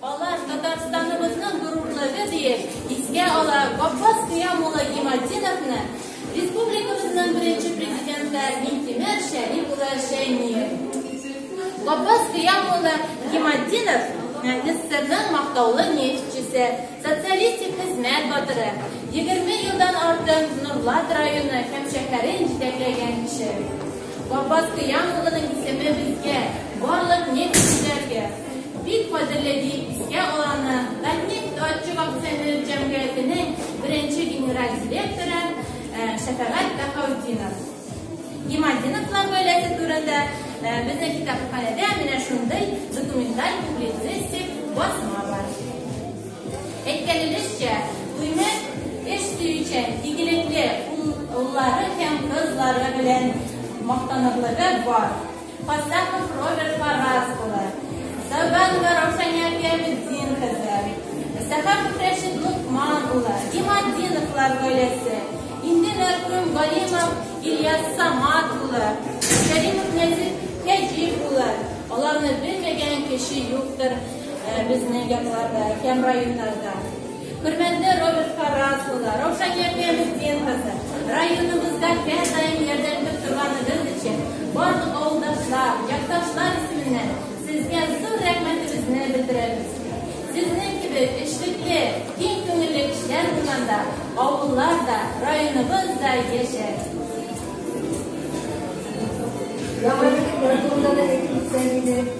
Алар Татарстаныбызның горурлыгы диеп искә ала Габбас Кыям улы Гиматдиновны, республикабызның беренче президенты Минтимер Шәриф улы Шәймиев. Габбас Кыям улы Гиматдинов СССРның мактаулы нефтьчесе, Социалистик хезмәт батыры, егерме елдан артык Норлат районы һәм шәһәрен җитәкләгән кеше. Вафат Кыям улының исеме безгә, барлык нефтьчеләргә, бик кадерле, дип искә аланы Татнефть Отчук акционер җәмгыятенең беренче генераль директоры Шәфәгать Бәһаутдинов. Гемодиновлар гаиләсе турында э, безнең китапханәдә менә шундый документаль публицистик басма бар. Әйткәнебезчә, туйны эш сөючән, игелекле уллары һәм кызлары белән мактанырлыгы бар. Фатахов Роберт Фараз улы, Сабанова Раушания Пиамеддин кызы, Сәхапов Рәшид Лукман улы, Иматдиновлар гаиләсе, инде мәрхүм Галимов Ильяс Самат улы, Кәримов Нәзир Кәҗиев улы, аларны белмәгән кеше юктыр безнең якларда һәм районнарда. Хөрмәтле Роберт Фараз улы, Раушания Пенсдин кызы, районыбызда һәр даим ярдәм итеп торганыгыз өчен барлык авылдашлар, якташлар исеменнән сезгә зур рәхмәтебезне белдерәбез. Сезнең кебек эшлекле, киң күңелле кешеләр булганда авыллар да, районыбыз да яшәр. Яңа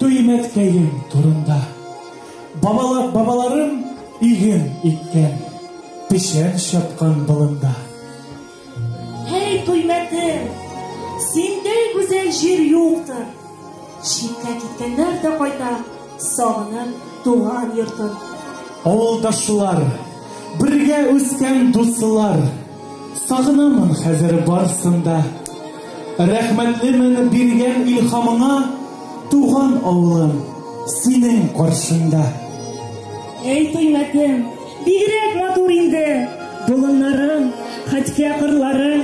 Төймәткәем турында. Бабалар, бабаларым иген иккән, печән чапкан болында. Һәй, Төймәтем, синдәй гүзәл җир юктыр. Читкә киткәннәр дә кайта, сагынып туган йортын. Авылдашлар, бергә үскән дуслар. Сагынамын хәзер барсын да. Рәхмәтлемен биргән илхамыңа, туган авылым, синең каршында. Әй, тыймәтем, бигрәк матур инде, болыннарың, хәткә кырлары.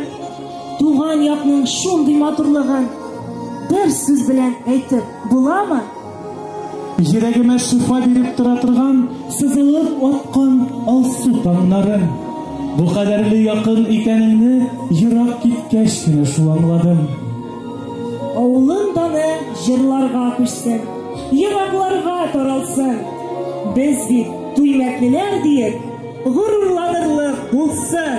Туган якның шундый матурлыгын бер сүз белән әйтеп буламы? Йөрәгемә шифа биреп тора торган сызылып аткан алсу тамнары. Бу кадәрле якын икәнеңне ерак киткәч кенә шул аңладым. Авылым даны җырларга күчсен, еракларга таралсын. Без бит Туймәтлеләр диеп, горурланырлык булсын.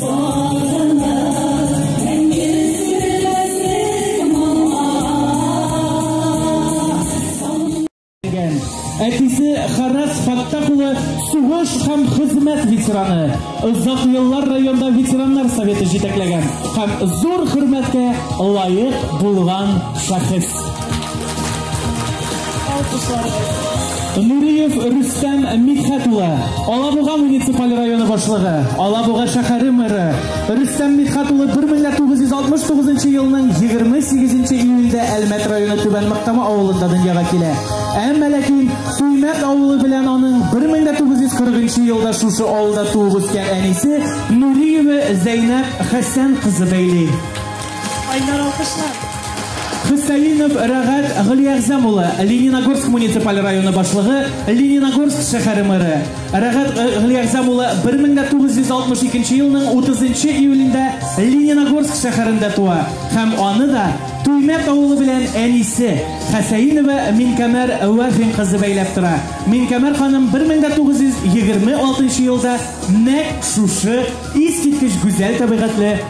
Әтисе Харрас Фаттах улы сугыш һәм хезмәт ветераны. Озак еллар районда ветераннар советы җитәкләгән һәм зур хөрмәткә лаек булган шәхес. Нуриев Рөстәм Мидхәт улы, Алабуга муниципаль районы башлыгы, Алабуга шәһәре мэры Рөстәм Мидхәт улы 1969 елның 28 июльдә Әлмәт районы Түбән Мактама авылында дөньяга килә. Әмма ләкин Туймәт авылы белән аның 1940 елда шушы авылда туып үскән әнисе Нуриева Зәйнәб Хәсән кызы бәйли. Айнар алкышлар. Хөсәенов Рәгат Гөлиягъзәм улы, Лениногорск муниципаль районы башлыгы, Лениногорск шәһәре мэры. Рәгат Гөлиягъзәм улы 1962 елның 30 июлендә Лениногорск шәһәрендә туа һәм аны да Туймәт авылы белән әнисе Хәсәинова Минкәмәр Вафин кызы бәйләп тора. Минкәмәр ханым 1926 елда нәкъ шушы искиткеч гүзәл табигатьле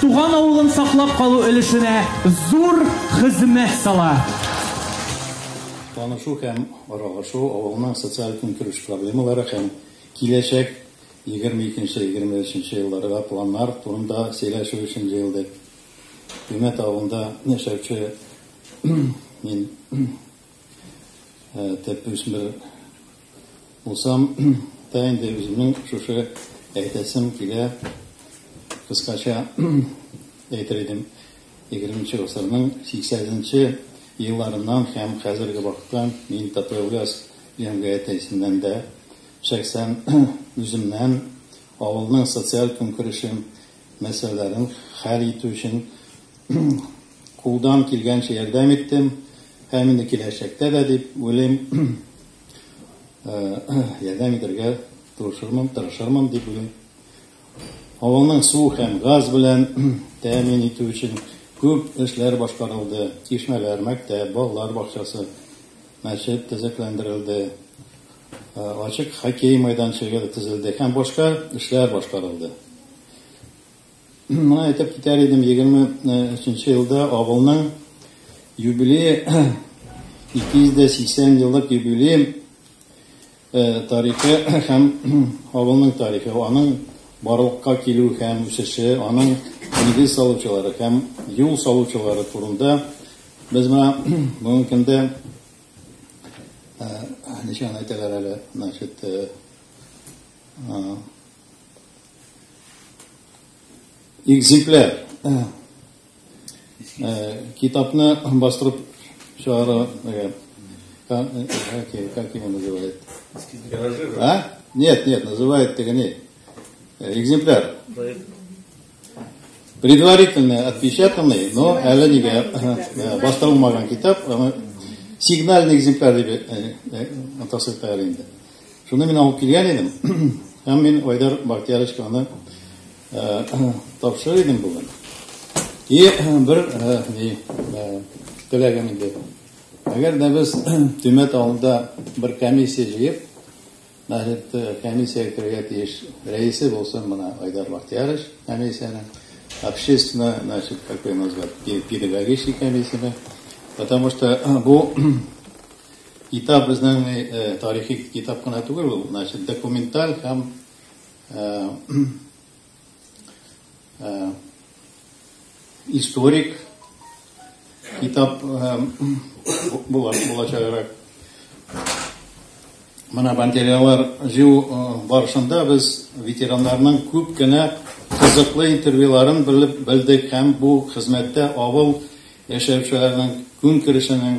туган авылын саклап калу өлешенә зур хезмәт сала. Танышу һәм аралашу, авылның социаль-көнкүреш проблемалары һәм киләчәк 22-23 нче елларга планнар турында сөйләшү өчен җыелдык. Күмәт авылында яшәүче мин төп үсмер Булсам да инде үземнең шушы әйтәсем килә, кыскача әйтер идем, егерменче гасырның сиксәзенче елларыннан һәм хәзерге вакытка мин Татойлгаз җәмгыяте исеннән дә, шәхсән үземнән, авылның социаль көнкүрешем мәсьәләләрен хәл итү өчен кулдан килгәнчә ярдәм иттем һәм инде киләчәктә дә дип уйлыйм, ярдәм итәргә тырышырмын, тырышырмын дип уйлыйм. Авылның су һәм газ белән тәэмин итү өчен күп эшләр башкарылды. Чишмәләр, мәктәп, балалар бакчасы, мәчет төзекләндерелде. ачык хоккей мәйданчыгы төзелде һәм башка эшләр башкарылды. Моны әйтеп китәр идем, 23 елда авылның юбилее 280 еллык юбилей тарихы һәм авылның тарихы, аның барлыкка килү һәм үсеше, аның нигез салучылары һәм юл салучылары турында без моны бүгенге көндә Ничә генә әйтәләр әле, значит, экземпляр китапны бастырып чыгару, как его называют? А? Нет, нет, называют тегене. Экземпляр. Предварительно отпечатанный, но әле нигә э, бастырылмаган китап, аны сигнальный экземпляр дип э, э, атасы тәгәр инде. Шуны мин алып килгән идем, һәм мин Айдар Бактияровичка аны тапшырыр идем бүген. И бер ни теләгем иде. Әгәр дә без төмәт авылында бер комиссия җыеп, Мәхриб-ты комиссиягә керергә тиеш, рәисе булсын мына Айдар Бахтиярович комиссиянең, общественное, значит, как ее назвать, педагогический комиссияне, потому что бу китап безнең тарихи китап кына түгел ул, значит, документаль һәм э, историк китап э, була, булачаграк. Менә материаллар җыю э, барышында без ветераннарның күп кенә кызыклы интервьюларын белеп белдек һәм бу хезмәттә авыл яшәүчеләренең көнкүрешенең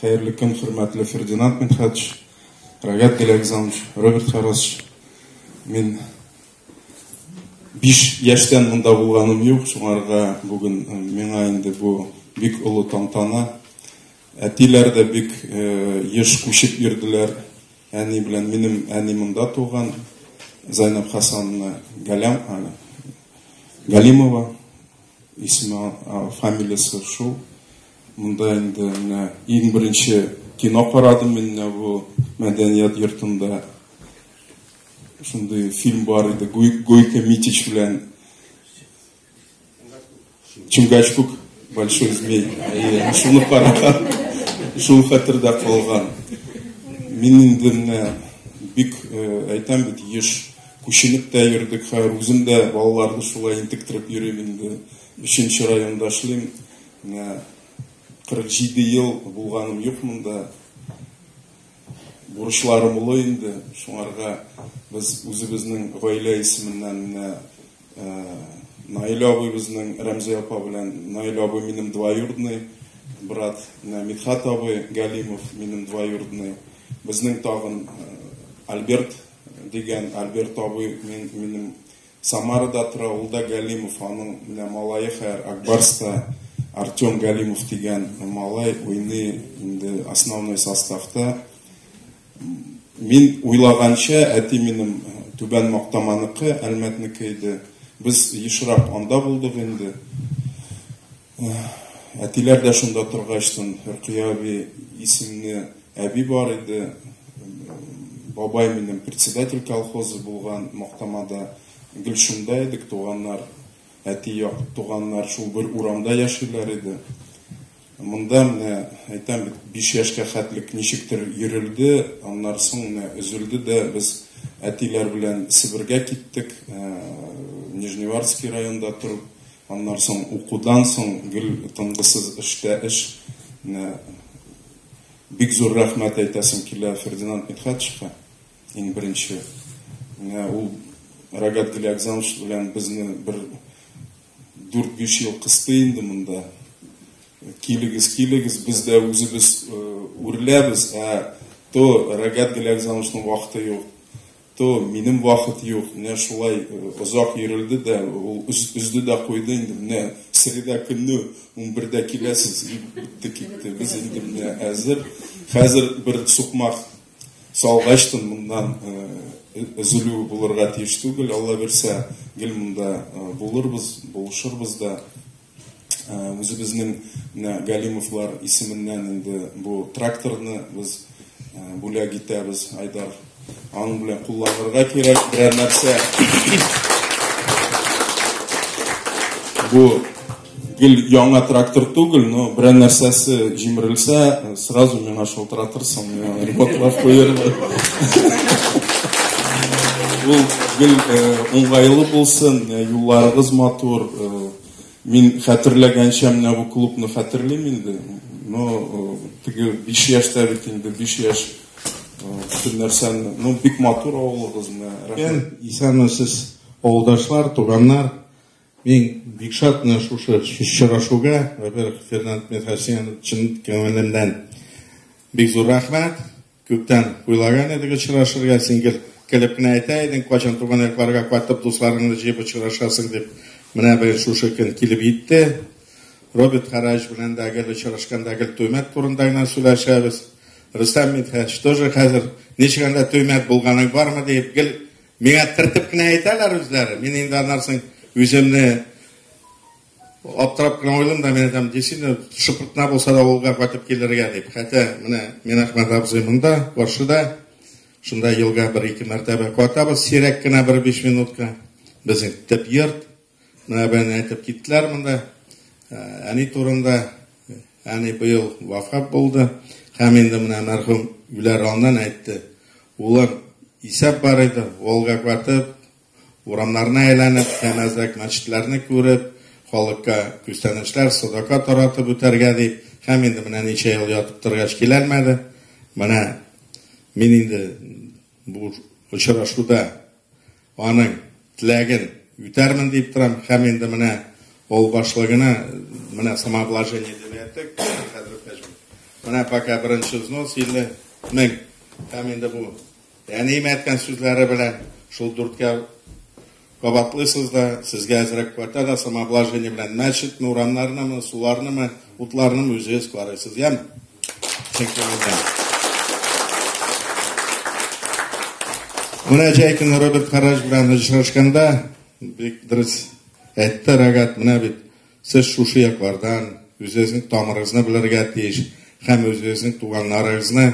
Хәерле көн, хөрмәтле Фердинанд Мидхәтович, Рагат Галиәгъзамович, Роберт Харасович. Мин биш яшьтән монда булганым юк, шуңарга бүген э, миңа инде бу бик олы тантана. Әтиләр дә бик э, еш күчеп йөрделәр. Әни белән минем әни монда туган, Зайнаб Хасановна Галям, Галимова, исеме, фамилиясе шул. Монда инде менә иң беренче кино карадым мин менә бу мәдәният йортында. Шундый фильм бар иде, Гойко Митич белән Чунгачкук, Большой змей. Шуны караган, шул хәтердә калган. Мин инде менә бик әйтәм бит, еш күченеп тә йөрдек, хәер үзем дә балаларны шулай интектереп йөрим инде. Өченче районда эшлим. Менә 47 ел булганым юк монда. Бурычларым олы инде, шуңарга без үзебезнең гаилә исеменнән менә Наилә абыйбызның Рәмзия апа белән Наилә абый минем двоюродный брат, менә Мидхат абый Галимов минем двоюродный. Безнең тагын Альберт дигән Альберт абый минем Самарада тора, ул да Галимов, аның менә малае хәер Акбарста Артем Галимов дигән малай уйный инде основной составта. Мин уйлаганча, әти минем Түбән Мактаманыкы, Әлмәтнеке иде. Без ешрак анда булдык инде. Әтиләр дә шунда торгачтын, Рөкыя әби исемле әби бар иде. Бабай минем председатель колхозы булган Мактамада. Гел шунда идек, туганнар, әти як туганнар шул бер урамда яшиләр иде. Монда менә әйтәм бит, 5 яшькә хәтлек ничектер йөрелде, аннары соң менә өзелде дә без әтиләр белән Себергә киттек. Нижневартский районда торып Аннан соң укудан соң гел тынгысыз эштә эш. Менә бик зур рәхмәт әйтәсем килә Фердинанд Мидхәтшевка. Иң беренче. Менә ул Рагат Галиакзанович белән безне бер 4-5 ел кысты инде монда. Килегез, килегез, без дә үзебез үрләбез, ә то Рагат Галиакзановичның вакыты юк. То, минем вахыт юк, менә шулай озак йөрелде дә, ул өзде дә куйды инде, менә среда көнне унбердә киләсез, бетте китте, без инде менә әзер. Хәзер бер сукмак салгач тын моннан өзелү булырга тиеш түгел, Алла бирсә, гел монда булырбыз, булышырбыз да. үзебезнең менә Галимовлар исеменнән инде бу тракторны без бүләк итәбез, Айдар. Аның белән кулланырга кирәк берәр нәрсә. Бу гел яңа трактор түгел, но берәр нәрсәсе җимерелсә, сразу миңа шалтыратырсың, миңа ремонтлап куярбыз. Ул гел уңайлы булсын, юлларыгыз матур, Мин хәтерләгәнчә менә бу клубны хәтерлим инде. Но э, теге 5 яшьтә бит инде 5 яшь бөтен э, нәрсәне, ну бик матур авылыгыз менә. Рәхмәт. Исәнмесез, авылдашлар, туганнар. Мин бик шат менә шушы очрашуга, во-первых, Фернанд Михасян чын күңелемнән бик зур рәхмәт. Күптән уйлаган идек очрашырга, син гел көлеп кенә әйтә идең, кайчан туган якларга кайтып дусларыңны җыеп очрашасың дип. Менә быел шушы көн килеп җитте. Роберт Хараевич белән дә гел очрашканда гел Туймәт турында гына сөйләшәбез. Рөстәм Мидхәч тоже хәзер ничек анда Туймәт булганың бармы диеп гел миңа тертеп кенә әйтәләр үзләре. Мин инде аннарсын үземне Аптырап кына уйлым да, менә там действительно шыпыртына булса да авылга кайтып килергә дип. Хәтә менә мин Әхмәт абзый монда, каршыда. Шунда елга бер-ике мәртәбә катабыз, сирәк кенә бер биш минутка. Безнең төп йорт. Менә бәне әйтеп киттеләр монда. Ә, әни турында, әни быел вафат булды. Һәм инде менә мәрхүм Гүләр аннан әйтте. Улым, исәп бар иде, Волга катып, Урамнарны әйләнеп, нәмәзлек мәчетләрне күреп, халыкка күстәнәчләр, садака таратып үтәргә дип, һәм инде менә ничә ел ятып торгач киләлмәде. Менә мин инде бу очрашуда аның теләген үтәрмен дип торам, һәм инде менә ул башлыгына менә самообложение дип әйттек, хәзер пәҗем. Менә пока беренче взнос 50 мең. Һәм инде бу Әнием әйткән сүзләре белән шул дүрткә кабатлыйсыз да, сезгә әзрәк квартира да самообложение белән мәчетме, урамнарнымы, суларнымы, утларнымы үзегез карыйсыз, яме? Менә Җәйкин Роберт Хараҗ белән очрашканда бик дөрес әйтте Рагат, менә бит сез шушы яклардан үзегезнең тамырыгызны белергә тиеш һәм үзегезнең туганнарыгызны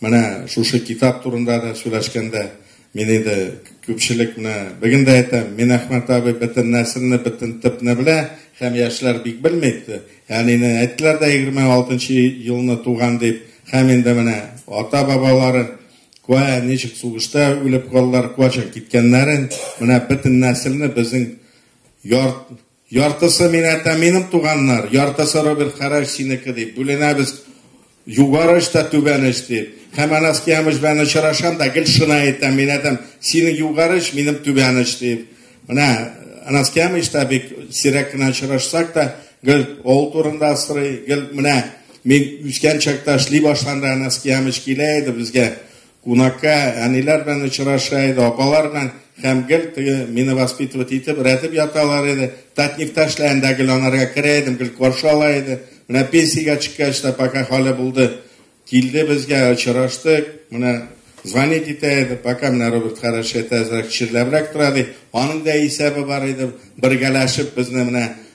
Менә шушы китап турында да сөйләшкәндә, мин инде күпчелек менә бүген дә әйтәм, мин Әхмәт абый бөтен нәселне, бөтен төпне белә, һәм яшьләр бик белми иде. Әнине әйттеләр дә 26 нчы елны туган дип, һәм инде менә ата-бабалары куә ничек сугышта үлеп калдылар, куачак киткәннәрен, менә бөтен нәселне безнең ярт Яртысы минәтә минем туганнар, яртысы Роберт Хәрәш синеке дип бүленәбез. Югары эш тә түбән эш дип. Һәм Анаскиямыш белән очрашам да гел шына әйтәм, минәтәм, синең югары эш, минем түбән эш дип. Менә Анаскиямыш та бик сирәк кенә очрашсак та, гел ул турында сорый, гел менә мин үскән чакта эшли башланда Анаскиямыш килә иде безгә. Кунакка әниләр белән очраша иде, апалар белән һәм гел теге мине воспитывать итеп, рәтеп яталар иде. Татнефтә эшләгәндә гел анарга керә идем, гел каршы ала иде. Менә пенсиягә чыккач та пока хәле булды. Килде безгә, очраштык. Менә звонить итә иде, пока менә Роберт Харашет әзрәк чирләбрәк тора ди. Аның да исәбе бар иде, бергәләшеп безне менә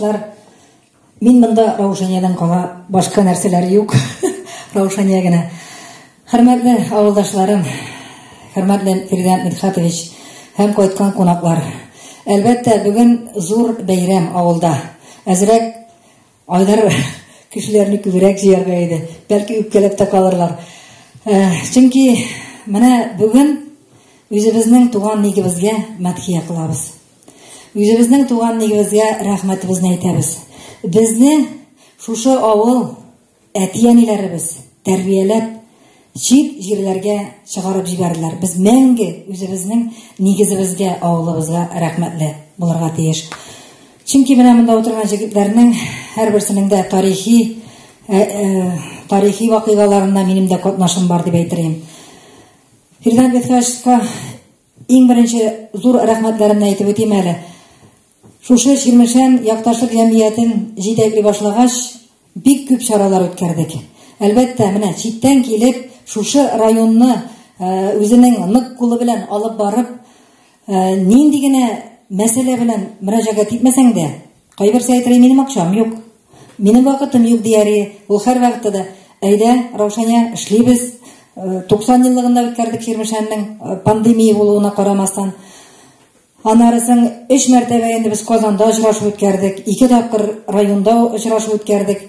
Мин монда Раушаниядән кала башка нәрсәләр юк. Раушания генә. Хөрмәтле авылдашларым, хөрмәтле Фирдән Мидхатович һәм кайткан кунаклар. Әлбәттә, бүген зур бәйрәм авылда. Әзрәк айдар кешеләрне күбрәк җыярга иде. Бәлки үпкәләп тә калырлар. Э, чөнки менә бүген үзебезнең туган нигебезгә мәдхия кылабыз. Үзебезнең туган нигебезгә рәхмәтебезне әйтәбез. Безне шушы авыл әти-әниләребез тәрбияләп, чит җирләргә чыгарып җибәрделәр. Без мәңге үзебезнең нигезебезгә, авылыбызга рәхмәтле булырга тиеш. Чөнки менә монда утырган җегетләрнең һәрберсенең дә тарихи э, э, тарихи вакыйгаларында минем дә катнашым бар дип әйтер идем. Фирдан Бетхашка Иң беренче зур рәхмәтләремне әйтеп үтим әле. Шушы Чирмешән якташлык җәмгыятен җитәкли башлагач, бик күп чаралар үткәрдек. Әлбәттә, менә читтән килеп, шушы районны э, үзенең нык кулы белән алып барып, э, нинди генә мәсьәлә белән мөрәҗәгать итмәсәң дә, Кайберсе әйтер, минем акчам юк. Минем вакытым юк дияре. Ул һәр вакытта да әйдә, Раушаня, эшлибез. 90 э, еллыгында үткәрдек Чирмешәннең э, пандемия булуына карамастан. Анарысын өч мәртәбә инде без Казанда очрашу үткәрдек, ике тапкыр районда очрашу үткәрдек.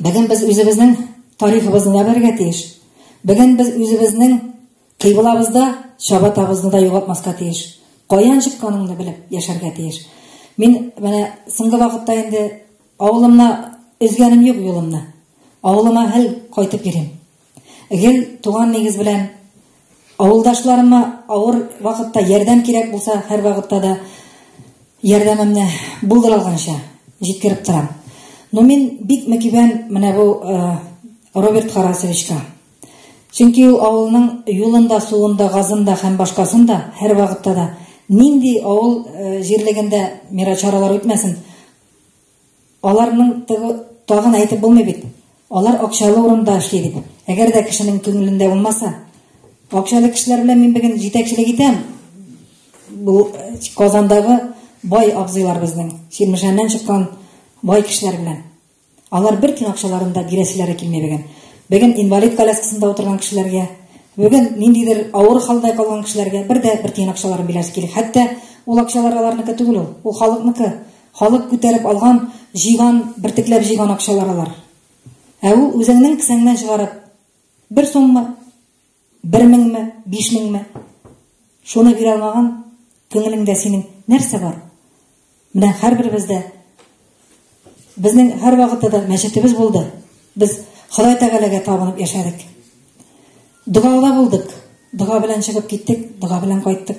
Бүген без үзебезнең тарихыбызны да белергә тиеш. Бүген без үзебезнең кыйблабызда чабатабызны да югалтмаска тиеш. Каян чыкканыңны белеп яшәргә тиеш. Мин менә соңгы вакытта инде авылымна өзгәнем юк юлымны. Авылыма һәл кайтып йөрим. Гел туган нигез белән авылдашларыма авыр вакытта ярдәм кирәк булса, һәрвакытта да ярдәмемне булдыра алганча җиткереп торам. Но мин бик мөкибән менә бу э, Роберт Харасовичка. Чөнки ул авылның юлында, суында, газында һәм башкасында һәрвакытта да нинди авыл э, җирлегендә мирачаралар үтмәсен, Аларның тыгы тагын әйтеп булмый бит. Алар акчалы урында эшли бит. Әгәр дә кешенең күңелендә булмаса, акчалы кешеләр белән мин бүген җитәкчелек итәм. Бу Казандагы бай абзыйлар безнең, Чирмешәннән чыккан бай кешеләр белән. Алар бер тин акчаларында бирәселәре килми бүген. Бүген инвалид коляскасында утырган кешеләргә, бүген ниндидер авыр хәлдә калган кешеләргә бер дә бер тин акчаларын бирәсе килми. Хәтта ул акчалар аларныкы түгел ул, ул халыкныкы. Халык күтәреп алган, җыйган, бертекләп җыйган акчалар алар. Ә ул үзеңнең кесәңнән чыгарып, бер суммы, бер меңме, биш меңме, шуны бирә алмаган күңелеңдә синең нәрсә бар? Менә һәрберебездә безнең һәрвакытта да мәчетебез булды. Без Ходай Тәгаләгә табынып яшәдек. Догада булдык, дога белән чыгып киттек, дога белән кайттык.